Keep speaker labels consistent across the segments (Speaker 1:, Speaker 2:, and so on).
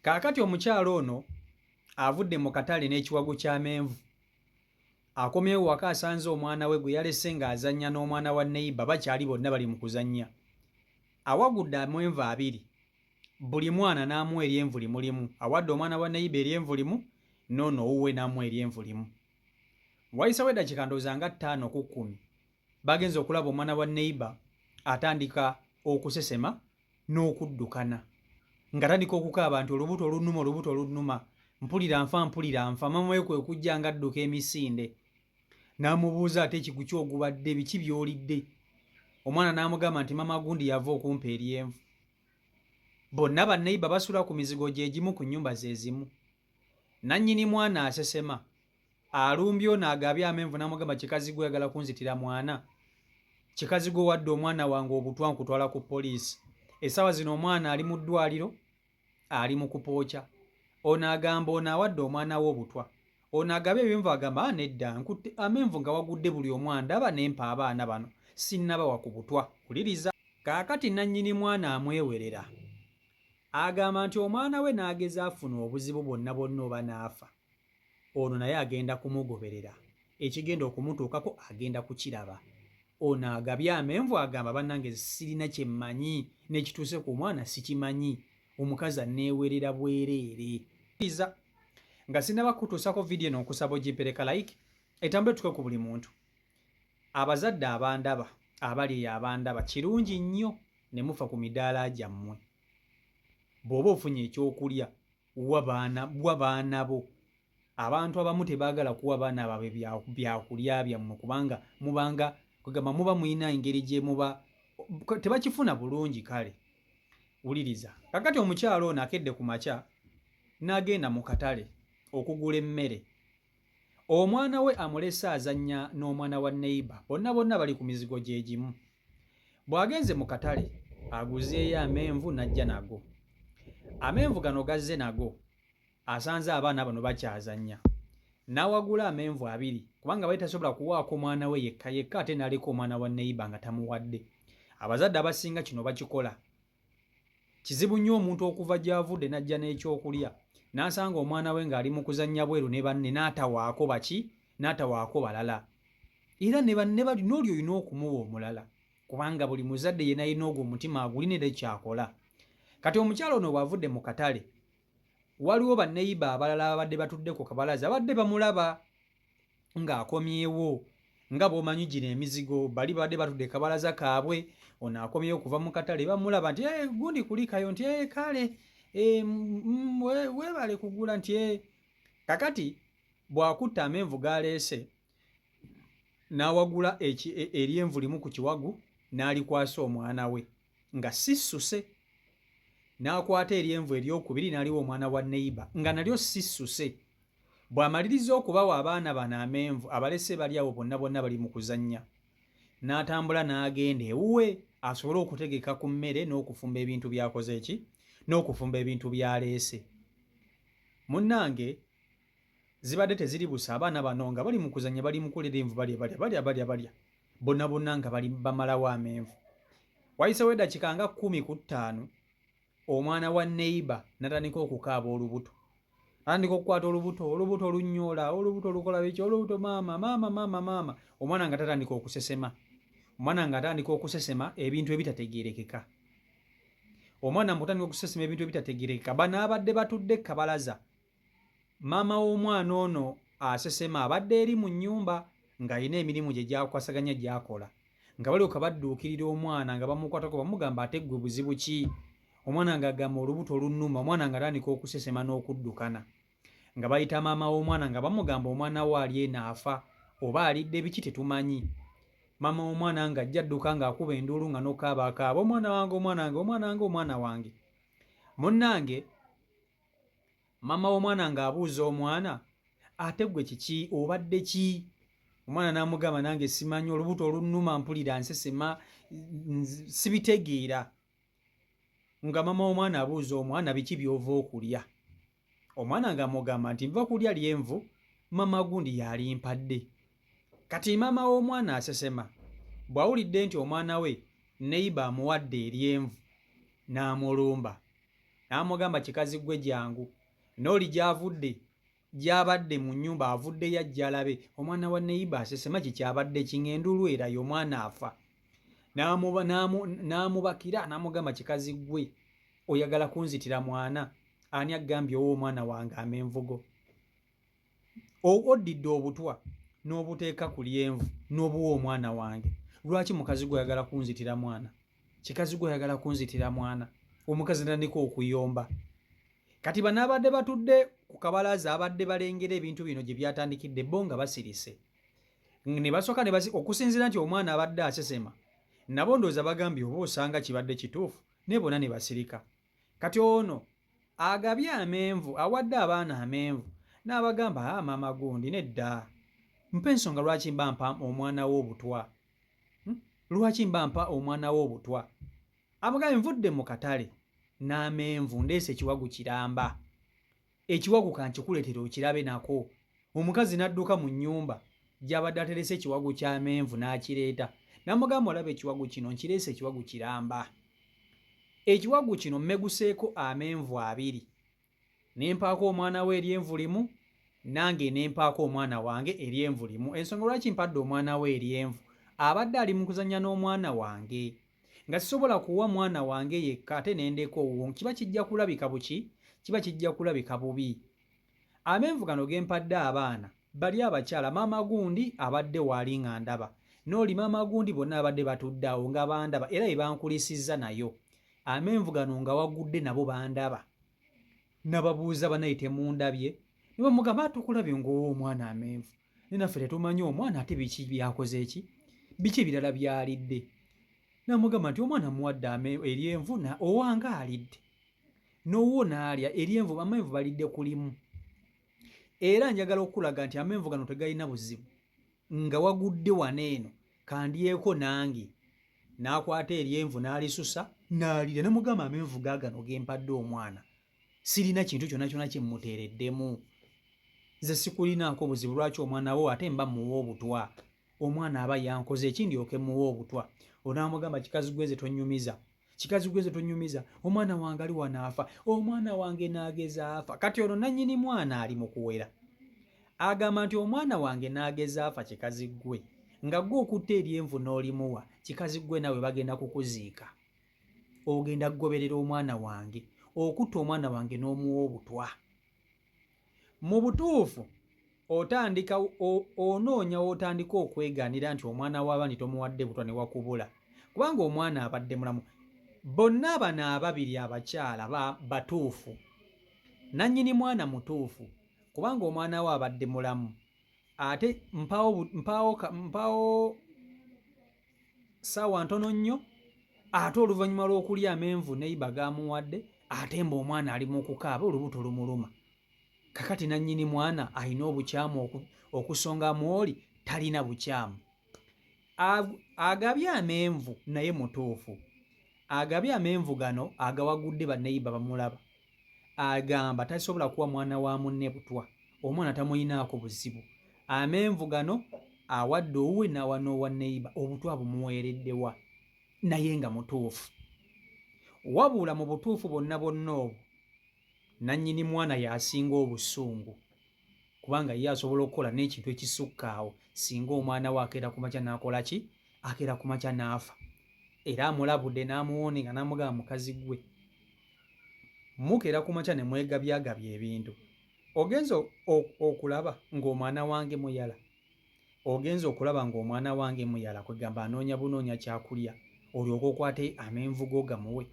Speaker 1: Kaakati omukyala ono avudde mu katale n'ekiwago ky'amenvu akomyewo waka asanze omwana we gwe yalese ng'azannya n'omwana wa neyiba bakyali bonna bali mu kuzannya awagudde amwenvu abiri buli mwana n'amuwa eryenvu limu limu awadde omwana wa neyiba eryenvu limu noono owuwe n'amuwa eryenvu limu wayisawo eddakika ndooza nga ttaano ku kkumi bagenze okulaba omwana wa neyiba atandika okusesema n'okuddukana nga tandika okukaaba nti olubuto olunnuma olubuto olunnuma mpulira nfa mpulira nfa maama we kwe kujja nga adduka emisinde n'amubuuza ate ekigu kyogubadde biki byolidde omwana n'amugamba nti maama gundi yava okumpa eryenvu bonna banneiba basula ku mizigo gye gimu ku nnyumba ze zimu nannyini mwana asesema alumbye ono agabye amenvu namugamba kikazi gwe oyagala kunzitira mwana kikazi gwe wadde omwana wange obutwa nkutwala ku poliisi esaawa zino omwana ali mu ddwaliro ali mu kupooca ono agamba ono awadde omwana we obutwa ono agabye ebimenvu agamba ah, nedda nkutte amenvu nga wagudde buli omu andaba nempa abaana bano sinnabawa ku butwa wuliriza kaakati nannyini mwana amwewerera agamba nti omwana we n'ageza afuna obuzibu bwonna bwonna oba n'afa ono naye agenda kumugoberera ekigenda okumutuukako agenda kukiraba ono agabye amenvu agamba bannange sirina kye mmanyi n'ekituuse ku mwana sikimanyi omukazi anneewerera bwereere iza nga sinaba kutuusako vidiyo eno nkusaba ogimpereka like etambule tuke ku buli muntu abazadde abandaba abali eyo abandaba kirungi nnyo ne mufa ku midaala gyammwe bw'oba ofunye ekyokulya wa baana wa baana bo abantu abamu tebaagala kuwa baana baabwe byakulya byammwe kubanga mubanga kwegamba muba mulina engeri gye muba tebakifuna bulungi kale wuliriza kakati omukyalo ono akedde ku makya n'agenda mu katale okugula emmere Omwana we amulese azannya n'omwana wa neyiba, bonna bonna bali ku mizigo gye gimu. Bw'agenze mu katale aguzeeyo amenvu n'ajja nago. Amenvu gano gazze nago asanze abaana bano bakyazannya n'awagula amenvu abiri kubanga bali tasobola kuwaako omwana we yekka yekka ate n'aleka omwana wa neyiba nga tamuwadde. Abazadde abasinga kino bakikola. Kizibu nnyo omuntu okuva gy'avudde n'ajja n'ekyokulya n'asanga omwana we ng'ali mu kuzannya bweru ne banne n'atawaako baki n'atawaako balala era ne banne bali n'oli olina okumuwa omulala kubanga buli muzadde yena alina ogwo omutima agulina era ekyakola kati omukyala ono bw'avudde mu katale waliwo banneyiba abalala ababadde batudde ku kabalaza abadde bamulaba ng'akomyewo nga bwomanyi gino emizigo bali babadde batudde kabalaza kaabwe ono akomyewo okuva mu katale bamulaba nti eh, gundi kulikayo nti eh, kale eh, webale kugula nti kakati bwakutta amenvu galeese n'awagula e, eryenvu limu ku kiwagu n'alikwasa omwana we nga sissuse n'akwata eryenvu eryokubiri n'aliwa omwana wa neyiba nga nalyo sissuse bw'amaliriza okubawa abaana bano amenvu abalese bali awo bonna bonna bali mu kuzannya n'atambula n'agenda ewuwe asobole okutegeka ku mmere n'okufumba ebintu byakoze ki n'okufumba ebintu byaleese munnange zibadde teziri busa abaana bano nga bali mukuzanya bali mukulira envu balya balya balya balya balya bonna bonna nga bali bamalawo amenvu wayisewo edakika nga kumi ku ttaano omwana wa neiba natandika okukaaba olubuto atandika okukwata olubuto olubuto olunyoola olubuto olukola biki olubuto maama maama maama maama omwana nga tatandika okusesema omwana nga atandika okusesema ebintu ebitategerekeka omwana mutandika okusesema ebintu ebitategerekeka banaabadde batudde kabalaza Maama w'omwana ono asesema abadde eri mu nnyumba ng'alina emirimu gye gy'akwasaganya gy'akola nga balyoka badduukirira omwana nga bamukwatako bamugamba ate ggwe buzibu ki omwana ng'agamba olubuto lunnuma omwana ng'atandika okusesema n'okuddukana nga bayita maama w'omwana nga bamugamba omwana wo ali eno afa oba alidde biki tetumanyi maama w'omwana ng'ajja adduka ng'akuba enduulu nga n'okaaba akaaba omwana wange omwana wange omwana wange omwana wange munnange maama w'omwana ng'abuuza omwana ate gwe kiki obadde ki omwana n'amugamba nange simanyi olubuto olunnuma mpulira nsesema sibitegeera nga maama w'omwana abuuza omwana biki by'ova okulya omwana ng'amugamba nti nva kulya lyenvu maama gundi yalimpadde kati maama w'omwana asesema bw'awulidde nti omwana we neyiba amuwadde eryenvu n'amulumba N'amugamba, Kikazi ggwe jangu. N'oli gy'avudde, gy'abadde mu nnyumba, avuddeyo ajje alabe. Omwana wa neyiba asesema, ki kyabadde ki? Ng'enduulu eraye, omwana afa. N'amuba, n'amu, n'amubakira, n'amugamba, Kikazi ggwe, oyagala kunzitira mwana? Ani akugambye owe omwana wange amenvugo? oddidde obutwa n'obuteeka ku lyenvu n'obuwa omwana wange lwaki mukazi gwe oyagala kunzitira mwana kikazi gwe oyagala kunzitira mwana omukazi natandika okuyomba kati banaabadde batudde ku kabalaaza abadde balengera ebintu bino gye byatandikidde bo nga basirise ne basooka okusinziira nti omwana abadde asesema nabo ndooza bagambye oba osanga kibadde kituufu naye bona ne basirika kati ono agabye amenvu awadde abaana amenvu n'abagamba a ah, maama gundi nedda mpa ensonga lwaki mba mpa omwana wo obutwa hmm? lwaki mba mpa omwana wo obutwa amugambe nvudde mu katale n'amenvu ndeese ekiwagu kiramba Ekiwagu ka nkikuleetere okirabe nako. Omukazi n'adduka mu nnyumba gy'abadde aterese ekiwagu ky'amenvu n'akireeta. N'amugamba, Olaba ekiwagu kino? Nkireese ekiwagu kiramba. Ekiwagu kino mmeguseeko amenvu abiri. Ne mpaako omwana wo eryenvu limu, nange ne mpaako omwana wange eryenvu limu. Ensonga lwaki mpadde omwana wo eryenvu, abadde ali mu kuzannya n'omwana wange. nga sisobola kuwa mwana wange yekka ate ne ndeka owuwo kiba kijja kulabika buki kiba kijja kulabika bubi amenvu gano ge mpadde abaana bali abakyala maama gundi abadde waali nga ndaba n'oli maama gundi bonna abadde batudde awo nga bandaba era be bankulisizza nayo amenvu gano nga wagudde nabo bandaba nababuuza banaye temundabye ne bamugamba tukulabye ng'owa omwana amenvu naye naffe tetumanyi omwana ate biki byakoze ki biki ebirala byalidde namugamba nti omwana muwadde ame eryenvu na owange alidde nowuwo naalya eryenvu amenvu balidde kulimu era njagala okukulaga nti amenvu gano tegalina buzibu nga wagudde wano eno kandyeko nange nakwata eryenvu nalisusa nalira namugamba amenvu gagano gempadde omwana sirina kintu kyona kyona kyemuteereddemu nze sikulinaako buzibu lwaki omwana wo ate mba muwa obutwa omwana aba yankoze ekindyoke muwa obutwa onaamugamba kikazi gweze tonyumiza kikazi gweze tonyumiza omwana wange ali wanaafa omwana wange naageza afa kati ono nannyini mwana ali mu kuwera agamba nti omwana wange naageza afa kikazi gwe nga gwe okutta eryenvu n'olimuwa kikazi gwe nawe bagenda kukuziika ogenda kugoberera omwana wange okutta omwana wange n'omuwa obutwa mu butuufu otandika onoonya w'otandika okwegaanira nti omwana w'abandi tomuwadde butwa ne wakubula kubanga omwana abadde mulamu bonna abano ababiri abakyala batuufu nannyini mwana mutuufu kubanga omwana we abadde mulamu ate mpaawo saawa ntono nnyo ate oluvannyuma lw'okulya amenvu neiba gaamuwadde ate mba omwana ali mu kukaaba olubuto lumuluma kakati nannyini mwana alina obukyamu okusonga mwoli talina bukyamu agabye amenvu naye mutuufu agabye amenvu gano agawagudde baneiba bamulaba agamba tasobola kuwa mwana wa munne butwa omwana tamuyinaako buzibu amenvu gano awadde owuwe n'awa n'owa neyiba obutwa bumuweereddewa naye nga mutuufu wabula mu butuufu bwonna bwonna obwo nannyini mwana y'asinga obusungu kubanga ye asobola okukola n'ekintu ekisukka awo singa omwana we akeera ku makya n'akola ki akeera ku makya n'afa era amulabudde n'amuwoone nga n'amugaba mukazi gwe mukeera ku makya ne mwegabyagabya ebintu ogenza okulaba ng'omwana wange muyala ogenza okulaba ng'omwana wange muyala kwegamba anoonya bunoonya kyakulya olyoka okwate amenvuga ogamuwe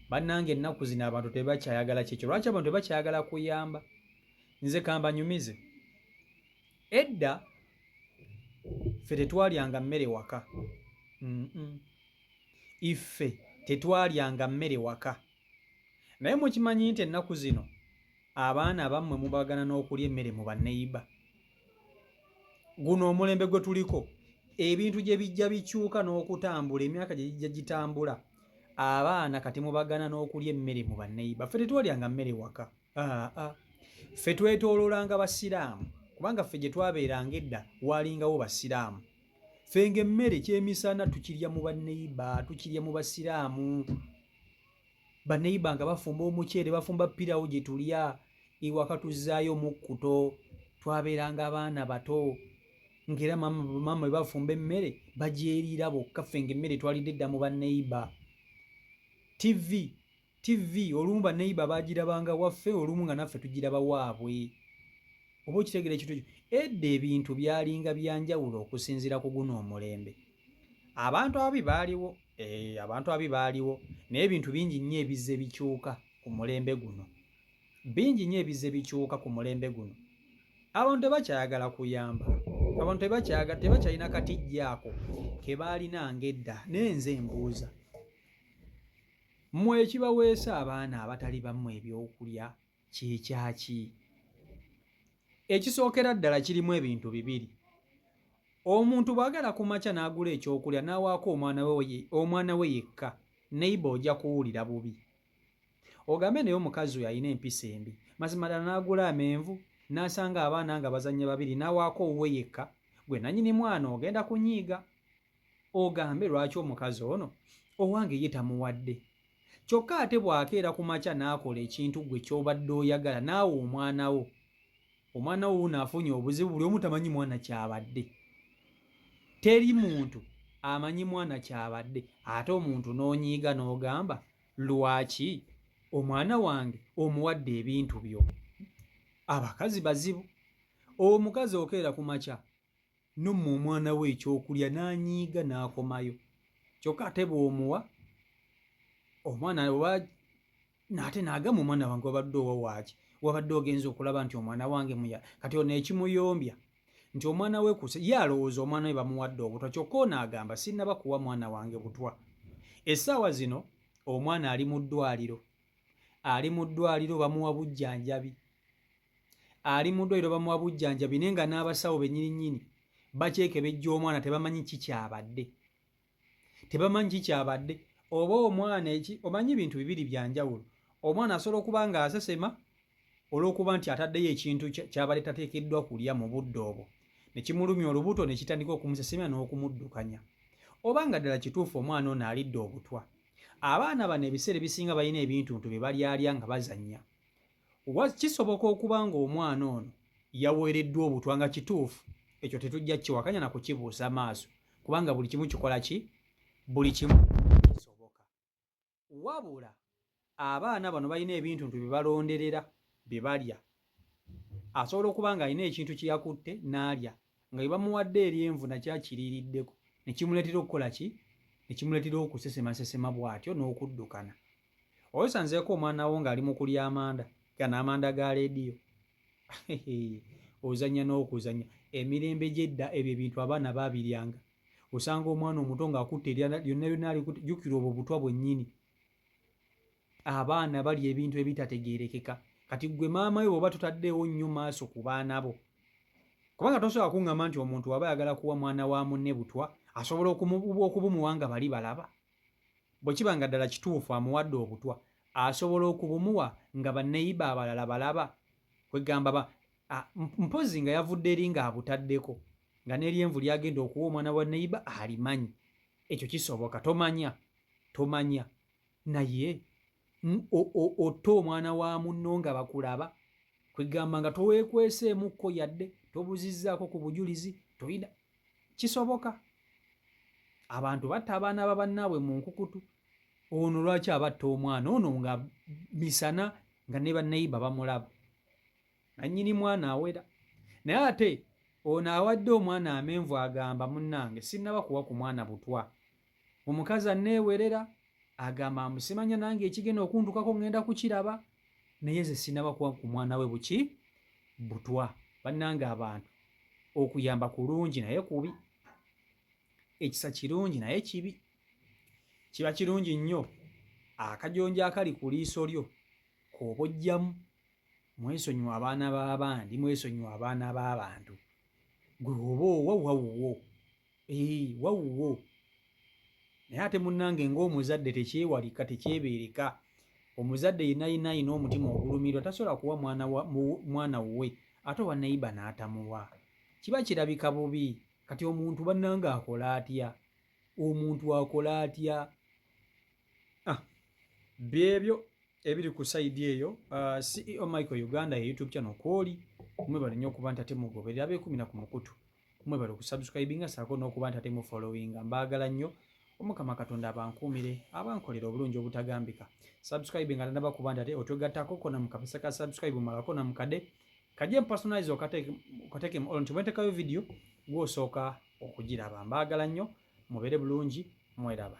Speaker 1: bannanga ennaku zino abantu tebakyayagala kyekyo lwaki abantu tebakyayagala kuyamba nze kambanyumize edda ffe tetwalyanga mmere waka iffe tetwalyanga mmere waka naye mukimanyi nti ennaku zino abaana abammwe mubagana n'okulya emmere mu banneyiba guno omulembe gwe tuliko ebintu gye bijja bikyuka n'okutambula emyaka gye gijja gitambula abaana kati mubagana n'okulya emmere mu banneyiba ffe tetwalyanga mmere waka Ah, ah. Ffe twetooloolanga Basiraamu kubanga ffe gye twabeeranga edda waalingawo Basiraamu. Ffe ng'emmere kyemisana tukirya mu banneyiba, tukirya mu Basiraamu. Banneyiba nga bafumba omuceere, bafumba pirawo gye tulya, ewaka tuzzaayo omukkuto. Twabeeranga abaana bato ng'era maama bwe bafumba emmere bagyeriira bokka ffe ng'emmere twalidde edda mu banneyiba. Ttivi. TV olumu ba neighbor bagirabanga waffe olumu nga naffe tugiraba waabwe. Oba okitegera ekintu ekyo. Edda ebintu byalinga byanjawulo okusinziira ku guno omulembe. Abantu ababi baaliwo, eh, abantu ababi baaliwo naye ebintu bingi nnyo ebizze bikyuka ku mulembe guno. Bingi nnyo ebizze bikyuka ku mulembe guno. Abantu tebakyayagala kuyamba. Abantu tebakyayagala tebakyalina katijja ako ke baalina ng'edda. Naye nze mbuuza. Mmwe ekibaweesa abaana abatali bammwe eby'okulya ky'ekya ki? Ekisookera ddala kirimu ebintu bibiri. Omuntu bw'agala ku makya n'agula eky'okulya n'awaako omwana we yekka, neyiba oja kuwulira bubi. Ogambe naye omukazi oyo alina empisa embi. Mazima ddala n'agula amenvu, n'asanga abaana nga bazannya babiri n'awaako owuwe yekka, ggwe nannyini mwana ogenda kunyiiga. ogambe lwaki omukazi ono owange ye tamuwadde kyokka ate bw'akeera ku makya n'akola ekintu ggwe ky'obadde oyagala naawe omwana wo omwana wo wuuno afunye obuzibu buli omu tamanyi mwana kyabadde teri muntu amanyi mwana kyabadde ate omuntu n'onyiiga n'ogamba lwaki omwana wange omuwadde ebintu byo abakazi bazibu omukazi okeera ku makya n'omma omwana we ekyokulya n'anyiiga n'akomayo kyokka ate bw'omuwa omwana oba naate n'agamba omwana wange wabadde owa waaki wabadde ogenza okulaba nti omwana wange muya kati ono ekimuyombya nti omwana we kuse ye alowooza omwana we bamuwadde obutwa kyokka ono agamba sinnaba kuwa mwana wange butwa essaawa zino omwana ali mu ddwaliro ali mu ddwaliro bamuwa bujjanjabi ali mu ddwaliro bamuwa bujjanjabi naye nga n'abasawo benyirinnyini bakyekebejja omwana tebamanyi ki kyabadde tebamanyi ki kyabadde oba omwana eki omanyi bintu bibiri bya njawulo omwana asobola okuba nga asesema olw'okuba nti ataddeyo ekintu kyabadde tateekeddwa kulya mu budde obwo ne kimulumya olubuto ne kitandika okumusesemya n'okumuddukanya oba nga ddala kituufu omwana ono alidde obutwa abaana bano ebiseera ebisinga balina ebintuntu bye balyalya nga bazannya Kisoboka okuba ng'omwana ono yaweereddwa obutwa nga kituufu, ekyo tetujja kiwakanya na kukibuusa maaso kubanga buli kimu kikola ki buli kimu kisoboka. Wabula abaana bano balina ebintu ntu bye balonderera bye balya. Asobola okuba ng'alina ekintu kye yakutte n'alya nga webamuwadde eryenvu nakyo akiriiriddeko ne kimuleetera okukola ki ne kimuleetera okusesemasesema bw'atyo n'okuddukana oyo sanzeeko omwana wo ng'ali mu kulya amanda gano amanda ga leediyo ozannya n'okuzannya emirembe gy'edda ebyo ebintu abaana baabiryanga osanga omwana omuto ng'akutte lyonna lyonna alikute jjukira obwo butwa bwennyini abaana bali ebintu ebitategerekeka kati gwe maama we bwoba tutaddeewo nnyo maaso ku baana bo kubanga tosobola kuŋŋamba nti omuntu waba ayagala kuwa mwana wa munne butwa asobola okubumuwa nga bali balaba bwe kiba nga ddala kituufu amuwadde obutwa asobola okubumuwa nga banneyiba abalala balaba kwegamba ba mpozi nga yavudde eri ng'abutaddeko nga n'eryenvu lyagenda okuwa omwana wa neyiba alimanyi ekyo kisoboka tomanya tomanya naye otta omwana wa munno nga bakulaba kwegamba nga towekweseemukko yadde tobuzizzaako ku bujulizi toyina kisoboka abantu batta abaana ba bannaabwe mu nkukutu ono lwaki abatta omwana ono nga misana nga ne bannayiba bamulaba nannyini mwana awera naye ate ono awadde omwana amenvu agamba munnange sinnaba kuwa ku mwana butwa omukazi anneewerera agamba amusimanya nange ekigenda okuntukako ngenda kukiraba naye ze sinaba kuwa ku mwana we buki butwa bannange abantu okuyamba kulungi naye kubi ekisa kirungi naye kibi kiba kirungi nnyo akajonjo akali ku liiso lyo kooba ojjamu mwesonyiwa abaana b'abandi mwesonyiwa abaana b'abantu gwe oba owa wawuwo Eeh wawuwo naye ate munnange ng'omuzadde tekyewalika tekyebeereka omuzadde yenayina ayina omutima ogulumirwa tasobola kuwa mwana wuwe ate owa neiba n'atamuwa kiba kirabika bubi kati omuntu bannange akola atya omuntu akola atya ah, byebyo ebiri ku sayidi eyo ah, ceo michael uganda ye youtube channel kwoli mwebale nnyo okuba nti ate mugoberera beekumira ku mukutu mwebale okusubscribinga saako n'okuba nti ate mufollowinga mbaagala nnyo omukama katonda abankuumire abankolera obulungi obutagambika subscribe nga tanaba kuba nti ate otwegattako kona mukapesa ka subscribe omalako na mukade kaje mpersonalize okateekemu olwo nti bwentekayo vidiyo gwosooka okugiraba mbaagala nnyo mubeere bulungi mweraba